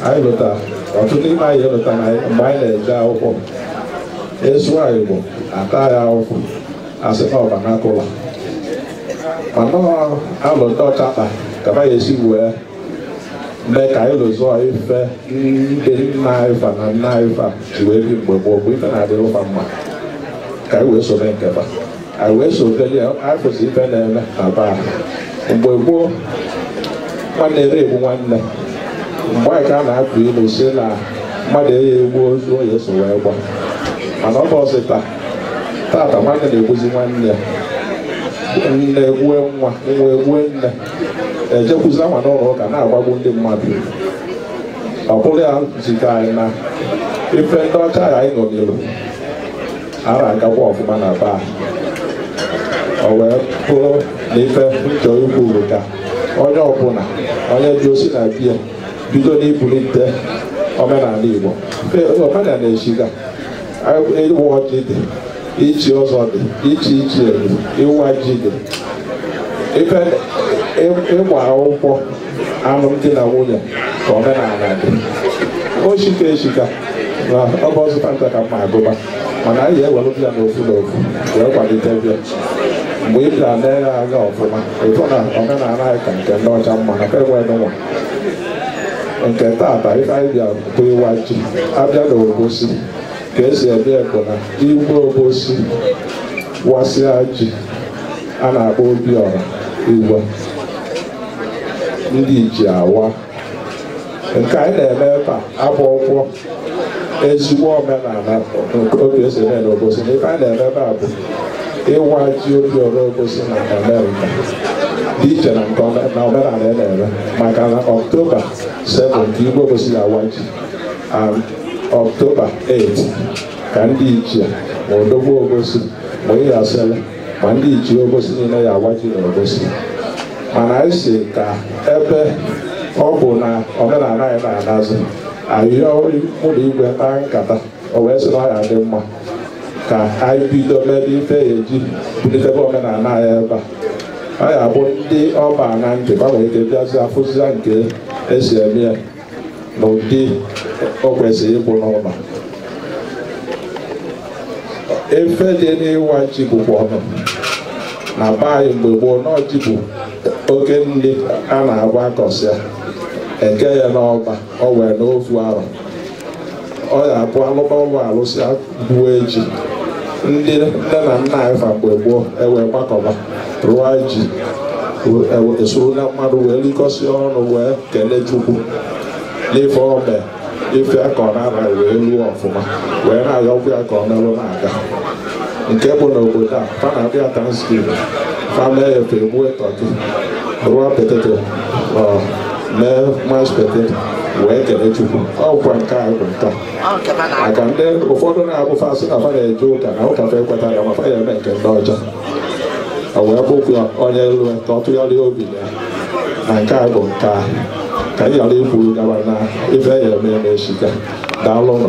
anyị lota ọtụtụ n'ime anyị elota na mgbe anyị na-eje akwụkwọ ị sụwa Igbo ata ya afụfụ asị na ọ vernacular mana alo ndị ọcha kpa ka ba ga-esi wee mee ka anyị lozọọ ife ndị nna anyị fa na nna anyị fa ji wee bi mgbe gboo bụ ife na-adịrị ụfa mma ka anyị wee soro nke ba anyị wee sobeli afụzi ife na-eme na baa mgbe gboo nwanne ere egbu nwanne mgbe anyị ka a na-atụ ilu sị na mmadụ ere egbu ozu onye eso wee kwa mana ụbọsị taa tata nwanne na-egbuzi nwanne ya nne egbue nwa nwa egbue nne ejekwuzia nwa n'ụlọ ụka na-agbagbu ndị mmadụ ọ bụrụ ya zite anyị na ife ndị ọcha ya anyị ṅomiri ara agakwa ọfụma na be ba o wee bụrụ na ife m chọ ikwu bụ ka onye ọbụla onye ji osi na be ya bido n'ibulite omenala igbo omenala na-esiga ịwa ọjị dị ichi ọzọ dị ichi ichie dị ịwa ji dị ife ịgba akwụkwọ alụmdi na nwunye ka omenala dị o shika eshika na ọ bụ ọzụta nta ka mma agụba mana anyị ewerebe ya n'ofu n'ofu wee kwalitebe ya mgbe ị bịara lee ya anya ọfụma ị fụ na omenala anyị ka nke ndị ọcha mma na ka enwe nwa nke tata ife anyị bịa bụ ịwa ji abịa na obosi ka esi eme bụ na igwe obosi wasịa ji a na-akpọ Obiọra igwe ndị ichie awa nke anyị na-eme ebe abụrọkwọ ezigbo omenala nke otu esi eme n'obosi na ife anyị na-eme ebe a bụ ịwa ji Obiọra obosi na Amerịka dị iche na nke ome- na omenala ya na-eme maka na ọktoba 7 ka igwe obosi ya-awa ji and ọktoba 8 ka ndị ichie ma odogwu obosi ma Iyasele ma ndị ichie obosi niile ya awa ji na obosi mana anyị sị ka ebe ọ bụ na omenala anyị na-anazi anyị ụlọ igwe kpaa nkata o wee sị na ọ ya dị mma ka anyị bido mebe ife ya eji bulitebe omenala anyị ebe a ọ ya bụ ndị ọ ba na ntị ba nwee ike bịazi afụzia nke esi eme ya na ụdị o kwesịrị ịbụ n'ụlọ ife dị n'ịwa ji bụkwanụ na be anyị mgbe gboo na ji bụ oke nri a na-agba akọsịa eke ya n'ọba o wee nọọ ofu arọ ọ ya abụ alụba ọlụ alụsịa gbue ji ndị nne na nna anyị fa mgbe gboo ewee gbakọba rụọ ji esuru na mmanụ wee likọsịa ọnụ wee kelee chukwu n'ife ome ife akọ n'ana wee luo ọfụma wee na-ayọkwa ya ka ọ melụ na-aga nke bụ n'obodo a fa na-abịa Thanksgiving fa mee ya fa egbue tọki rụọ poteto mee mash poteto wee kele Chukwu ọ bụkwa nke a bụ nke a maka ndị ụfọdụ na-abụ fa sị na fa na-eje ụka na ụka fa ekweta ya ma fa ya eme nke ndị ọcha o wee bụkwu ya onye elu ka ọ tụgharịa obi ya na nke a bụ nke a ka anyị ghara ikwuru gaba na ife ya eme eme echi ka daalụ nụ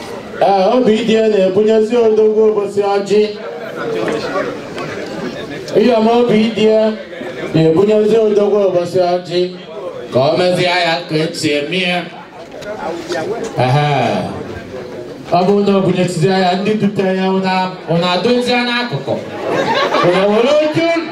Ee, Obidịya na-ebunyezi Odogwu Obosi ọjị Iyọm Obidịya na-ebunyezi Odogwu Obosi ọjị ka ọ mezie ya ka esi eme ya Ehe. ọ bụrụ na ọ bụnyesizi ya ndị dute ya ụnụ adụzie n'akụkụ ụnụ were oche ụnụ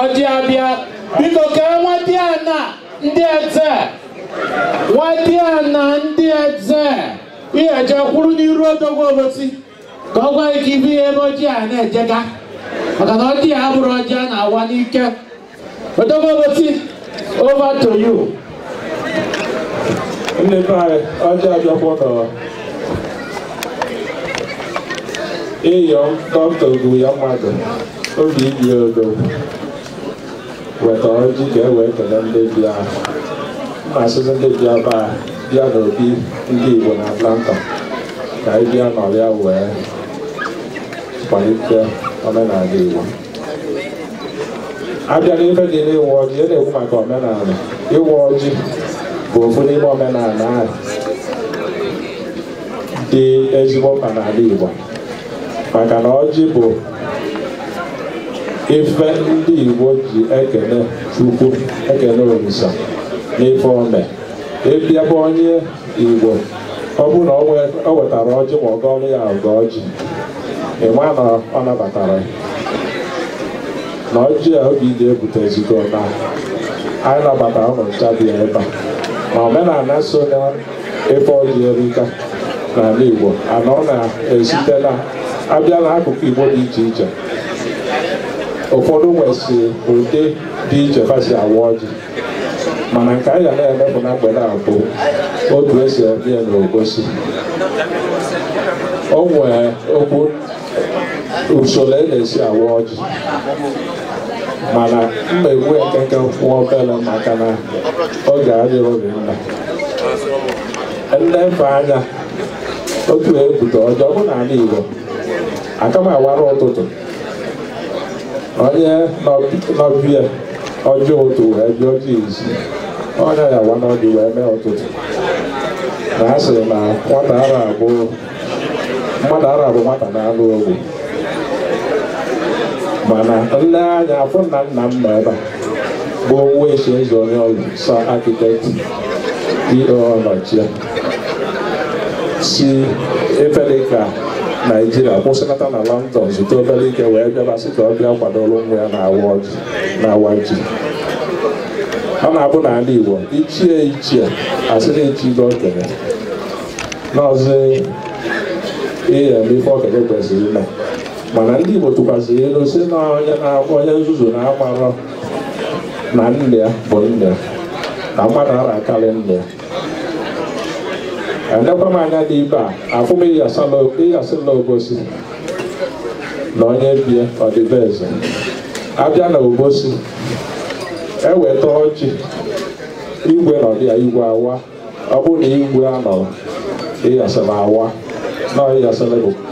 ọjị abịa biko ka nwadịana ndị eze nwadịana ndị eze ihe eje kwụrụ n'iru Odogwu Obosi ka ọ gwa gị ka ibu ihe ebe ọjị a na-ejega maka na ọjị a abụrọ ọjị a na-awa n'ike Odogwu Obosi, over to you. Ndị be anyị, ọjị abịakwa nụ. Iyọm dọkịta ogbu ya mmadụ, Obidịya odo. Weta ọjị ka e wee kelee ndị bịa. M na-asịzi ndị bịa be a, bịa n'obi ndị Igbo na Atlanta ka anyị bịa nọrịa wee kwalite omenala Igbo. abịa n'ife dị n'ịwa ọjị ya na-ekwu maka omenala ịwa ọjị bụ ofu n'ime omenala ahụ dị ezigbo mkpa n'ala Igbo maka na ọjị bụ ife ndị Igbo ji ekene Chukwu ekene Olisa n'ife ome ị bịa be onye Igbo ọ bụrụ na o wetara ọjị ma ọ gọọlụ ya ọgọ ọjị ịma na ọ nabatara ya na ọjị a Obidịya bute ezigo na anyị nabatara ụnụ ncha dị ebe a ma omenala so na ife ọjị erika n'ala Igbo and ọ na-esite na abịa n'akụkụ Igbo dị iche iche ụfọdụ nwesị ụdị dị iche fa si awa ọjị mana nke anyị ga na-emepụ na mgbede a bụ otu esi eme ya n'Obosi o nwee okwu usoro e na-esi awa ọjị mana m ga-ekwu nkenke nwa obere maka na oge adịghị oge nna nlefe anya otu e bute ọjị ọ bụ n'ala Igbo aka m awara ụtụtụ onye nọbịa ọjọọ ụtụ wee bịa ọjọọ izu onye ya-awa ọjị wee mee ụtụtụ na a sị na nwata ara abụ mmadụ ara abụ nwata n'anụ o gbu mana m nee anya afụ na nna m nọ ebe a bụ nwa esi eze onye oru Sir architect dị ọnọchie si ebe dị ka naijiria kwụsịlata na london zutu obere ike wee bịaba sị ka ọ bịa kwadoro nwa ya na-awa ọjị ọ na-abụ n'ala igbo ichie ichie asị na-echi ibe okenye n'ọzọ ihe eme ife okenye kwesịrị ime mana ndị igbo tụkwasịrị ilu sị na onye nzuzu na-amarọ na nna ya bụ nna ya na mmadụ ara akarị nna ya elekwa m anya dị ibe a afụ m Iyasele obosi na onye bie ọ dị be eze abịa na obosi eweta ọjị igwe nọdụ ya igwe awa ọ bụrụ na igwe anọrọ Iyasele awa na Iyasele bụ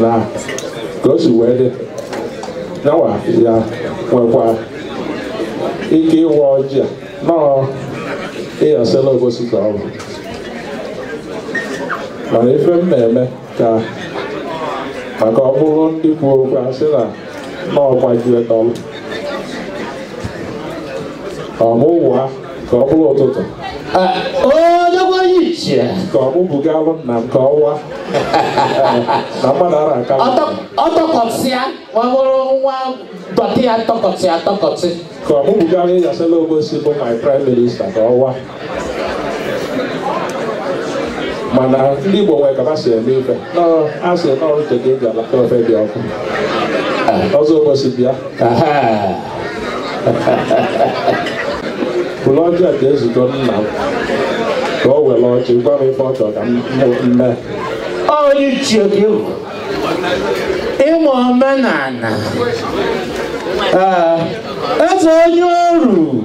na ka o si wee dị nya nwa ya nwekwa ike ịwa ọjị a na ọ Iyasele obosi ka ọ bụ mana ife m na-eme ka maka ọ bụrụ ndị kwu okwu a sị na ọ gbajue tọlụ ọmụwa ka ọ bụrụ ụtụtụ onye onye ichie ka mụ bugalụ nna m ka ọ wa na mmadụ ara aka ọtọkọsịa ma ọ bụrụ nwa dọtị ya tọkọtị ya tọkọtị ka mụ bugalụ Iyasele obosi bụ my prime minister ka ọ wa mana ndị Igbo nwere ka fa si eme ife a sị n'ọrụ ka e ji alacha ofe dị ọkụ ọzọ obosi bịa buru ọjị a ga-ezukọ nna m ka o were ọjị gwa m ife ọ chọrọ ka m mee onye ichie gị bụ ịma omenala ee eze onye oru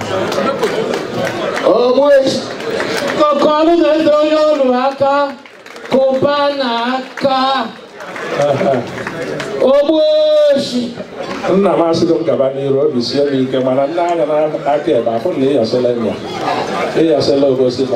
ọkọlụ na-ede onye nwelụ aka kụba na aka Ogbueshi nna m asịgo m gaba n'iru obi sie m ike mana nee anya n'aka ebe afụ na Iyasele ya Iyasele Obosi na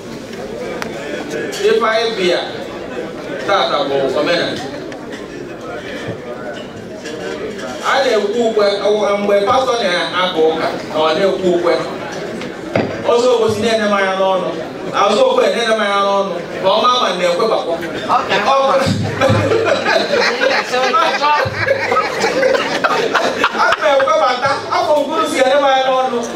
ife anyị bịa tata bụ omenala a na-ekwe ukwe mgbe pastọ na-aka ụka na ọ na-ekwe ukwe ọzọ Obosi na-ene m anya n'ọnụ azụ okwe na-ene m anya n'ọnụ ma ọ ma ma na-ekwebakwa a na-ekwebata afọ mkpụrụ si ene m anya n'ọnụ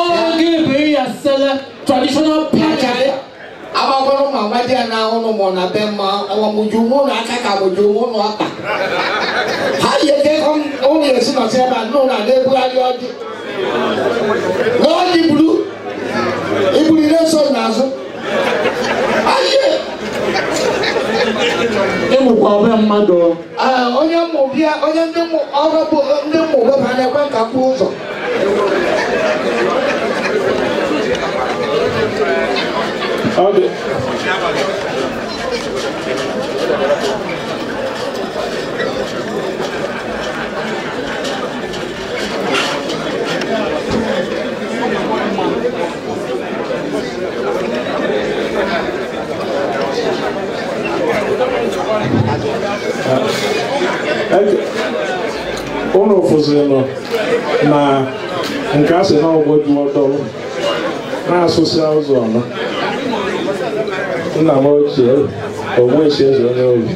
oge ebe Iyasele traditional pachari agbagwara ụmụ amadi ya na ụlọ mụ na be mma ọ mụjuo ụmụ n'aka ka mụjuo ụmụ n'ọkpa ha yi eke ụlọ esi nọsị ebe a nụ na na-ebugharị ọjị na ọjị buru iburu na-eso n'azụ ayie ịmụkwa ọbịa mmadụ Ee, onye mmụọ bịa onye ndị mmụọ ọrụ bụ ndị mmụọ webara na-ekwe nka kwụ ụzọ Ọ dị. ụnụ fụzinụ na nke a sị na ọgwụ dị ọtọ na-asụsị ụzọ ọnụ nna m ochie Ogbueshi eze onye obi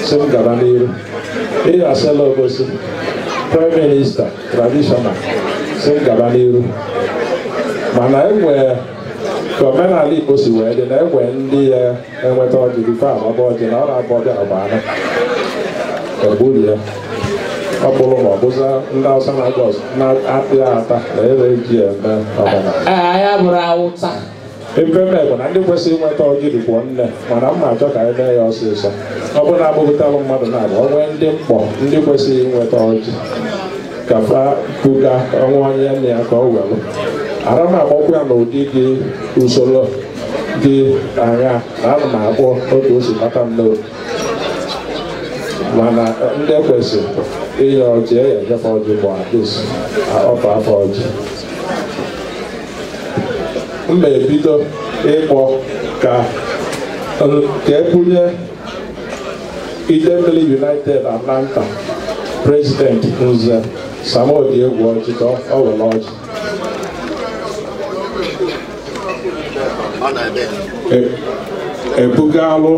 sị m gaba n'iru Iyasele Obosi prime minister traditional sị m gaba n'iru mana e nwe ka omenala Igbo si wee dị na e nwe ndị ya-eweta ọjị before a waba ọjị na ọ na-abụ ọjị agba anọ egburu ya ọ bụrụ ma ọ bụza ndị Hausa na-agba ọzọ na-akpị ya ata na ere ji ya eme omenala Ee, anyị abụrọ Hausa Ife me bụ na ndị kwesịrị iweta ọjị rikwa nne mana m na-achọ ka anyị mee ya ọsịsọ ọ bụrụ na a gụpụtalụ mmadụ naabọ o nwee ndị m kpọ ndị kwesịrị iweta ọjị ka fa buga ọnwa onye nne ya ka ọ welụ ara m akpọkwa ya n'ụdị dị usoro dị anya na ana m akpọ otu o si bata m n'obi mana ndị kwesịrị inye ọjị a ya-enyefe ọjị but at least fa afụ ọjị m na-ebido ịkpọ ka e bunye Idemili United Atlanta president Nze Sam Odiegwu ọjị ka o were ọjị ebugalụ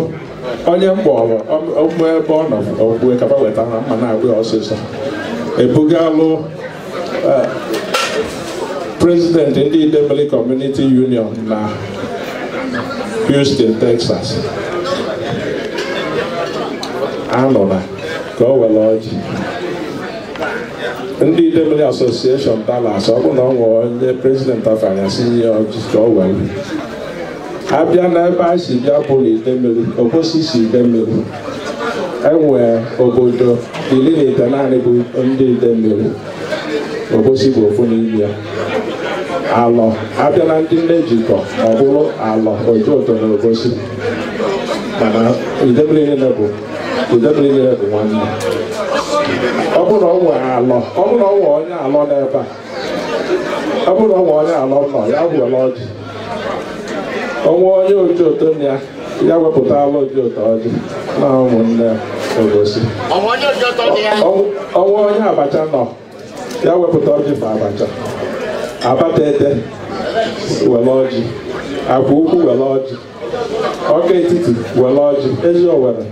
onye mkpọrọ ọmụ ebe ọ nọ ogbue kaba weta ha mma na-agwa ya ọsịsọ ebugalụ Eh, President ndị Idemili Community Union na Houston, Texas anụla ka o were ọjị ndị Idemili Association Dallas ọ bụ na ọ nwere onye president afanya si nye ọjị ka o were abịa n'ebe a si bịa bụrụ Idemili Obosi si Idemili e nwe obodo iri na itenaanị bụ ndị Idemili Obosi bụ ofu n'ime ya Alọ a bịa na ndị nne jikọ ọ bụrụ Alọ Ojoto na Obosi mana Idemili niile bụ Idemili niile bụ nwanne ọ bụrụ na ọ nwere Alọ ọ bụrụ na ọ nwere onye Alọ n'ebe a ọ bụrụ na ọ nwe onye Alọ nọ ya were ọjị o nwe onye Ojoto nọ ya ya wepụtala Ojoto ọjị na ụmụnne Obosi o nwe onye Abacha nọ ya wepụta ọjị ma Abacha Abatete were ọjị Akwa Ukwu were ọjị Ọka Etiti were ọjị Eziowelle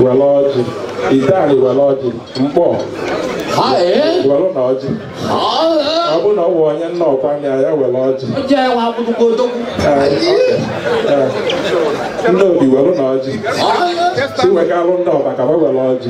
were ọjị Ideani were ọjị Mkpọ werenụ ọjị ọ bụ na o nwe onye Nnokwa nọ ya were ọjị Nnobi werenụ ọjị si wegalụ ndị Ọba ka wa were ọjị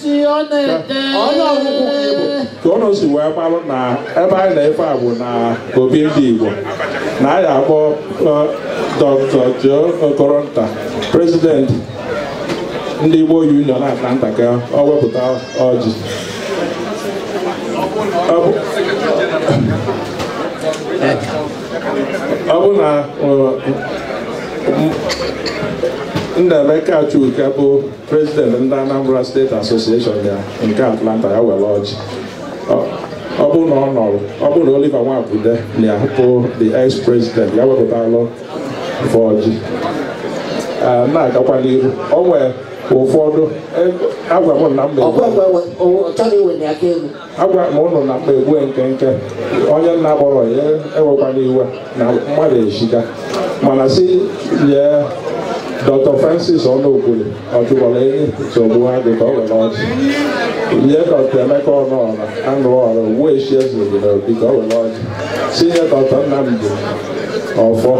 onye ọgwụgwụ ka ịbụ ka ụnụ si wee marụ na ebe anyị na-efe a bụ na obi ndị Igbo na anyị akpọ Dr. Joe Okoronta president ndị Igbo Union Atlanta ka ọ wepụta ọjị ọ bụ na Nnaemeka Chuka bụ president ndị Anambra State Association ya nke Atlanta ya were ọjị ọ bụrụ na ọ nọrọ ọ bụrụ na Oliver Nwabude nọ ya bụ the ex president ya wepụtalụ fa ọjị na-agakwa n'ihu o nwere ụfọdụ agwa m na mbe agwa m ụnụ na m ga egbu nkenke onye na akpọrọ ya ewekwana iwe na mmadụ erika mana si nye dr francis ọnụokwuli ọjụgbọrọ enyi nsogbu ha dị ka ọ were ọjị nye dr emeka ọnụọra anụ ọra ugbu echi eze obodo obi ka ọ were ọjị si nye dr nnamdi ọfọ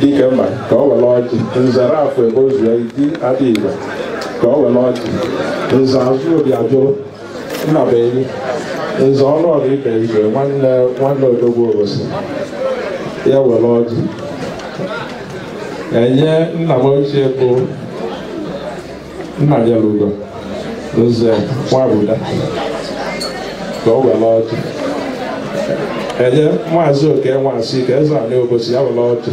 dike mma ka ọ were ọjị nzere afọ ebe o zuo iti adị igbo ka ọ were ọjị nze azụ obi ajụrụ Nnabuenyi nze ọnụọra ibe igwe nwanne odogwu obosi ya were ọjị enye nna m ochie bụ nnanyelugo nze nwabuda ka o were ọjị enye maazị oke nwasike eze anị obosi ya were ọjị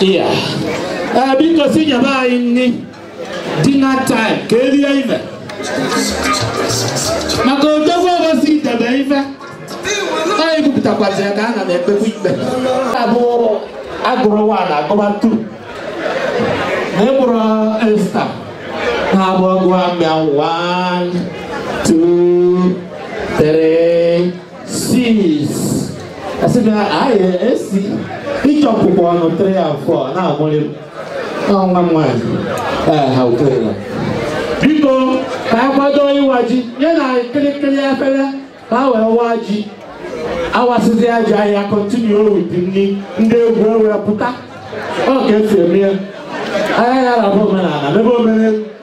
Iya. Eh, biko si nyebe anyị nri dinner time ka erie ife maka odogwu obosi edebe ife anyị bupụtakwazi ya ka a na m ekpekwa ikpe abụ agụrụ nwa na agụba tu na ịkpụrụ esta na abụ ọgụ amịa one two three six asị m ya anyị esi ịchịkọkwa ọnụ 3 and 4 na-amụrị m ọ nwa m nwaanyị ee ha ukwere ya biko ka a kwado ịwa ji nye na kịrịkịrị efere ka a wee waa ji awasịzia ji anyị a continue with nri ndị egwu ewere pụta ọ ka esi eme ya anyị aya rapụ omenala mebe omenelu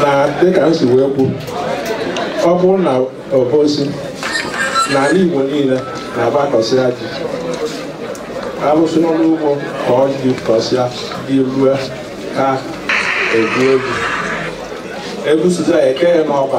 na dịka m si wee kwu ọ bụrụ na obosi na ala igbo niile na-agbakọsịa ji alụsịa ọrụ ugbo ka ọ dị kọsịa ji rue ka egwu ji egwusizia ekee ya n'ọba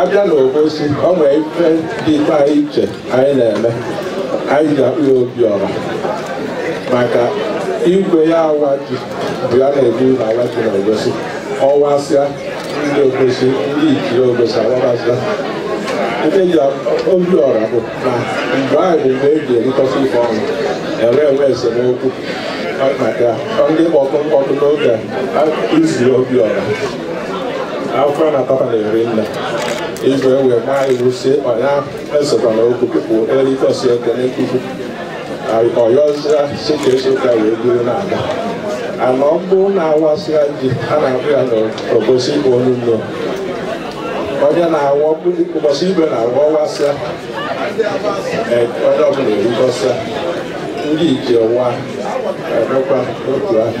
abịa na obosi ọ nwere ife dịrị anyị iche anyị na-eme anyị ji akpọ ya obiọra maka igwe ya awa ji bụ ya na-ebu na awa ji na obosi ọwasịa ndị obosi ndị ichie obosi awabasịa ndị ji obiọra bụ na mgbe anyị bụ mgbe e ji erikọta ife ọnụ e wee nwee esemokwu maka ndị kpọtụ mkpọtụ n'oge e ji eri obiọra afọ na papa na-eri nne igwe wee maa iwu si ịkpa ya esokwana okwu pụpụ erikosi ekene nkuku ọyọzia si ka eso ka wee buru na-aga ana ọ bụrụ na awasịa ji a na-akpọ ya n'obosi igbo onye nno onye na-awa ụbọchị igwe na-awa ọwasịa onye ọbụla erikọsịa ndị ichie wa emekwa otu ahụ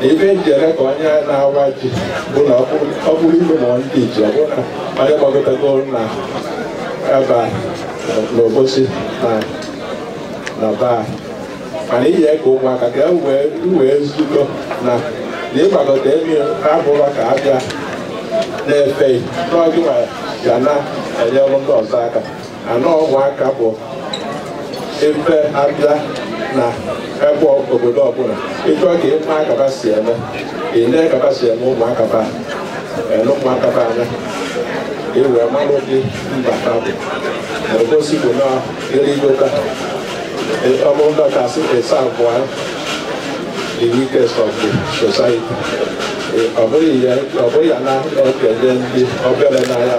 na ife m ji eme ka onye na-awa ji bụ na ọ bụrụ ilu ma ndị ji ọ bụrụ na onye gbagotego na ebe n'Obosi na na baa mana iyi ka ụmụaka ka wee zukọ na na ịgbagota elu abụrọ ka a bịa na-efe gị na ọ gịwa ga na-enyere ndị ọzọ aka na ụmụaka bụ ebe a bịa na ebe obodo ọbụla ị chọọ ka ị ma aka fa si eme ị nee aka fa si eme ụmụaka fa lee ụmụaka fa anya ị wee mara ụdị mba ha bụ na Obosi bụ na e rigota ọ bụrụ na ka a sị it's about the weakest of the society ọ bụghị ya na okenye ndị obere n'anya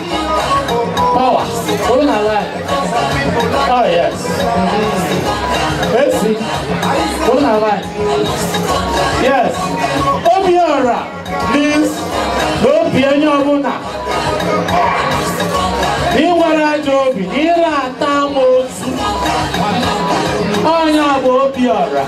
Power. Olu na ala. Oh yes. Esi. Olu na ala. Yes. Obiora means na obi onye ọbụla. Ị nwerọ ajọ obi, ị ra ata amoosu. Ọ nya bụ Obiora.